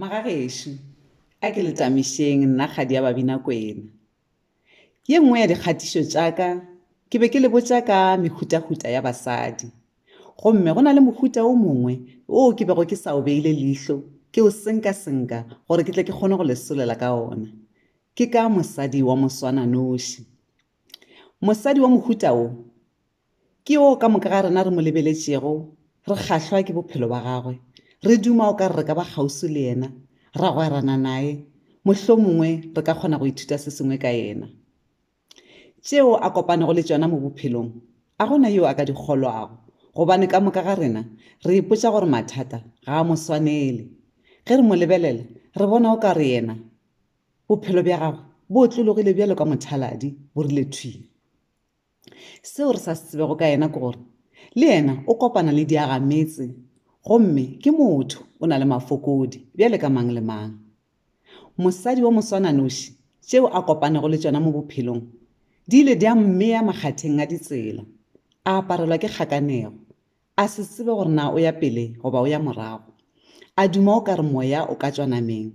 Magagešo, a ke le tamišeng nna kgadi ya Babinakwena. Ye nngwe ya dikgatišo tša ka ke be ke le botša ka mehutahuta ya basadi. Gomme go na le mohuta o mongwe woo ke bego ke sa o beile leihlo ke o senkasenka gore ke tle ke kgone go le solela ka ona. Ke ka mosadi wa moswananoši. Mosadi wa mohuta wo Ke yo ka moka ga rena re mo lebeletšego, re kgahlwa ke bophelo ba gagwe, re duma o ka re re ka ba kgauswi le yena, ra gwerana naye, mohlomongwe re ka kgona go ithuta se sengwe ka yena. Tšeo a kopanego le tšona mo bophelong a go na yo a ka di kgolwago, gobane ka moka ga rena re ipotša gore mathata ga a mo swanele. Ge re mo lebelela, re bona o ka re yena bophelo bja gagwe bo otlologile bjalo ka mothaladi, bo rile thwi. Seo re sa se tsebego ka yena ke gore le yena o kopana le diagametse gomme ke motho o na le mafokodi bjale ka mang le mang. Mosadi wa moswananoši tšeo a kopanego le tšona mo bophelong di ile di a mmea makgatheng a ditsela, a aparelwa ke kgakanego, a se tsebe gore na o ya pele goba o ya morago, a duma o ka re moya o ka tšwa nameng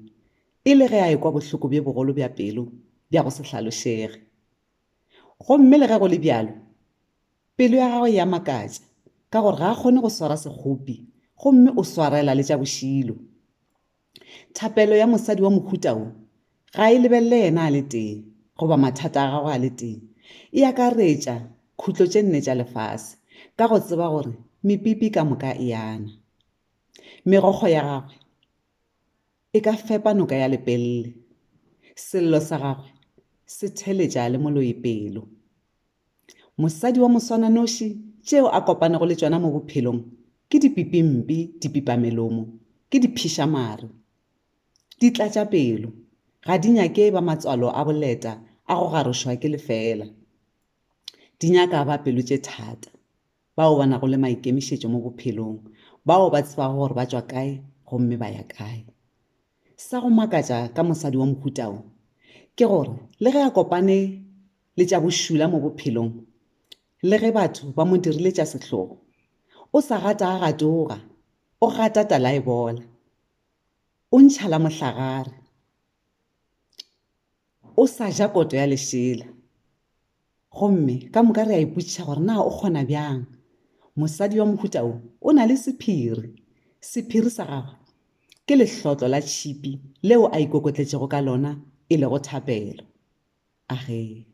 e le ge a ekwa bohloko bjo bogolo bja pelo bja go se hlalošege. Gomme le ge go le bjalo, pelo ya gagwe e a makatša, ka gore ga a kgone go swara sekgopi, gomme o swarela le tša bošilo. Thapelo ya mosadi wa mohuta wo ga e lebelele yena a le tee, goba mathata a gagwe a le tee. E akaretša khutlo tše nne tša lefase, ka go tseba gore mepipi ka moka e ana. Megokgo ya gagwe e ka fepa noka ya lepelle. Sello sa gagwe se theletša le moloi pelo. Mosadi wa moswananoši tšeo a kopanego le tšona mo bophelong ke dipipimpi, dipipamelomo, ke diphišamare. Di tlatša pelo, ga di nyake ba matswalo a boleta a go garošwa ke lefeela. Di nyaka ba pelo tše thata. bao ba nago le maikemišetšo mo bophelong, bao ba tsebago gore ba tšwa kae gomme ba ya kae. Sa go makatša ka mosadi wa mohuta wo ke gore le ge a kopane le tša bošula mo bophelong, le ge batho ba mo dirile tša sehlogo, o sa gatagagatoga, o gata talaebola, o ntšha la mohlagare, o sa ja koto ya lešela. Gomme ka moka re a ipotšiša gore na o kgona bjang. Mosadi wa mohuta wo o na le sephiri. Sephiri sa gagwe ke lehlotlo la tšhipi leo a ikokotletšego ka lona e lego thapelo. Ahee.